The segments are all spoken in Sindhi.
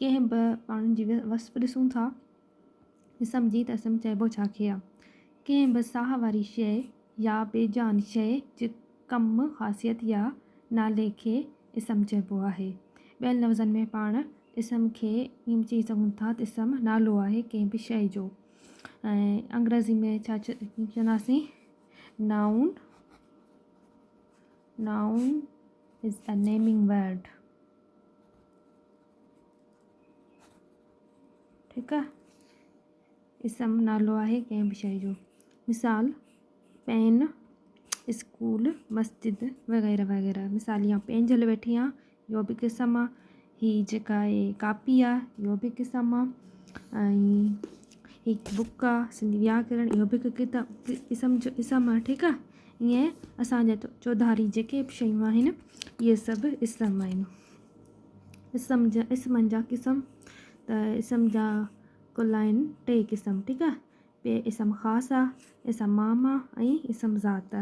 ڪنهن به ماڻهو جي وصف ڏسون ٿا، جسم جي ته اسم چئبو ڇا کي آ. ڪنهن به ساهه واري شيء يا بي جان شيء جي ڪم، خاصيت يا نالي کي اسم چئبو آهي. ٻين لفظن ۾ پاڻ اسم کي ائين به چئي سگهون ٿا ته اسم نالو آهي ڪنهن به شيء جو ۽ انگريزي ۾ ڇا چونداسين Noun Noun is a naming word. ٺيڪ آ اسم نالو آهي ڪنهن به شيء جو مثال پين اسڪول مسجد وغيره وغيره مثال يا پينجهل ويٺي آ يو به هڪ اسم آ هي جيڪا آهي ڪاپي آ يو به هڪ اسم آ ۽ هي بڪ آ سنڌي وياڪرڻ يو به هڪ ڪتاب اسم جو اسم آ ٺيڪ آ ائين اسان جا چوڌاري جيڪي به شيون آهن اهي سڀ اسم آهن اسم جا اسمن جا قسم ته اسم جا ڪل آهن ٽي قسم ٺيڪ آهي پي اسم خاص آ اسم مام آ ۽ اسم ذات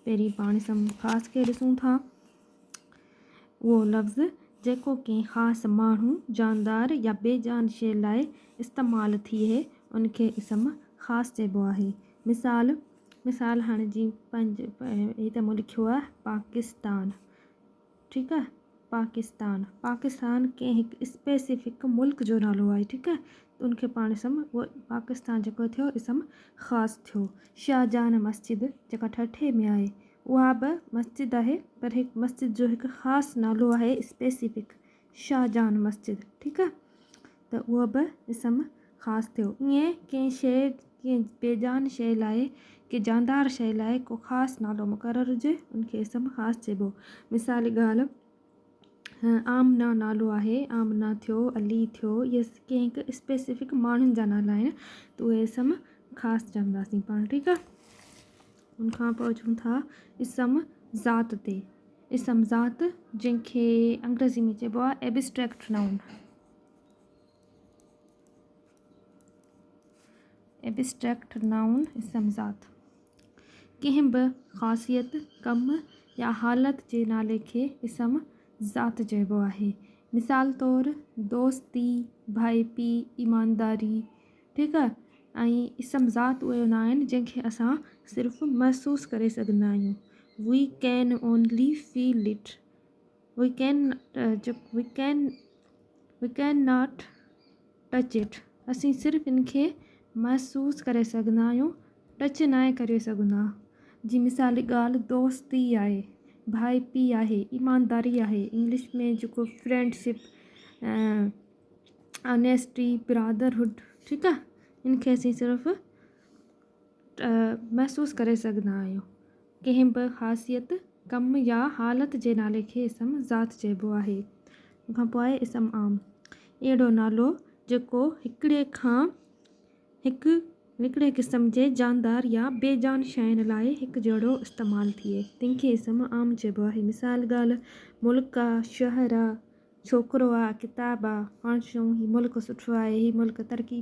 پهرين پاڻ اسم خاص کي ڏسون ٿا اهو لفظ جيڪو ڪنهن خاص ماڻهو جاندار يا بي جان شي لاء استعمال ٿئي ان کي اسم خاص چئبو آهي مثال مثال هاڻي جي پنهنجي هي ته مون لکيو آهي پاڪستان ٺيڪ آهي پاڪستان پاڪستان ڪنهن هڪ اسپيسفڪ ملڪ جو نالو آهي ٺيڪ آهي ته ان کي پاڻ اسم هو پاڪستان جيڪو ٿيو اسم خاص ٿيو شاهه جهان مسجد جيڪا ٺٽي ۾ آهي اها به مسجد آهي پر هڪ مسجد جو هڪ خاص نالو آهي اسپيسفڪ شاهه جهان مسجد ٺيڪ آهي ته اهو به اسم خاص ٿيو. ائين ڪنهن شيء، ڪنهن بيجان شيء لاء، ڪنهن جاندار شيء لاء ڪو خاص نالو مقرر هجي، ان کي اسم خاص چئبو. مثالي ڳالهه، آمنه نالو آهي، آمنه ٿيو، علي ٿيو، اهي ڪنهن هڪ اسپيسفڪ ماڻهن جا نالا آهن ته اهي اسم خاص چونداسين پاڻ، ٺيڪ آهي. ان کان پوء اچون ٿا اسم ذات تي. اسم ذات، جنهن کي انگريزي ۾ چئبو آهي Abstract Noun. ائبسٽريڪٽ نائون اسم ذات ڪنهن به خاصيت، ڪم يا حالت جي نالي کي اسم ذات چئبو آهي. مثال طور، دوستي، ڀائپي، ايمانداري، ٺيڪ آهي. اهي اسم ذات اهي هوندا آهن جن کي اسان صرف محسوس ڪري سگهندا آهيون، We can only feel it. We can we can we can not touch it اسين صرف ان کي محسوس ڪري سگهندا آهيون ٽچ ناهي ڪري سگهندا جي مثالي ڳالهه دوستي آهي ڀائپي آهي ايمانداري آهي انگلش ۾ جيڪو فرينڊ شپ انيسٽي برادر هوڊ ٺيڪ آهي ان کي اسين صرف محسوس ڪري سگهندا آهيون ڪنهن به خاصيت، ڪم يا حالت جي نالي کي اسم ذات چئبو آهي. ان کان پوء آهي اسم عام. اهڙو نالو جيڪو هڪڙي کان هڪ هڪڙي قسم جي جاندار يا بي جان شين لاء هڪ جهڙو استعمال ٿئي، تنهن کي اسم عام چئبو آهي. مثال، ڳالهه، ملڪ آ، شهر آ، ڇوڪرو آ، ڪتاب آ، پاڻ چئون هي ملڪ سٺو آهي، هي ملڪ ترقي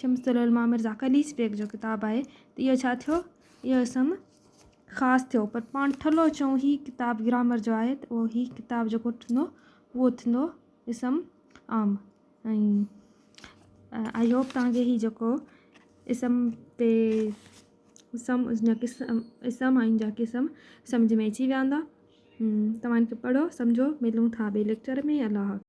شمس العلماء مرزا قليچ بيگ جو ڪتاب آهي ته اهو ڇا ٿيو اهو اسم خاص ٿيو پر پاڻ ٺلهو چون هي ڪتاب گرامر جو آهي ته اهو هي ڪتاب جيڪو ٺھندو اهو ٿيندو اسم عام ۽ آئي هوپ تان کي هي جيڪو اسم تي اسم جا قسم اسم ۽ جا قسم سمجھ ۾ اچي ويا هوندا توهان ان کي پڙهو سمجھو ملون ٿا ٻئي ليڪچر ۾ الله حافظ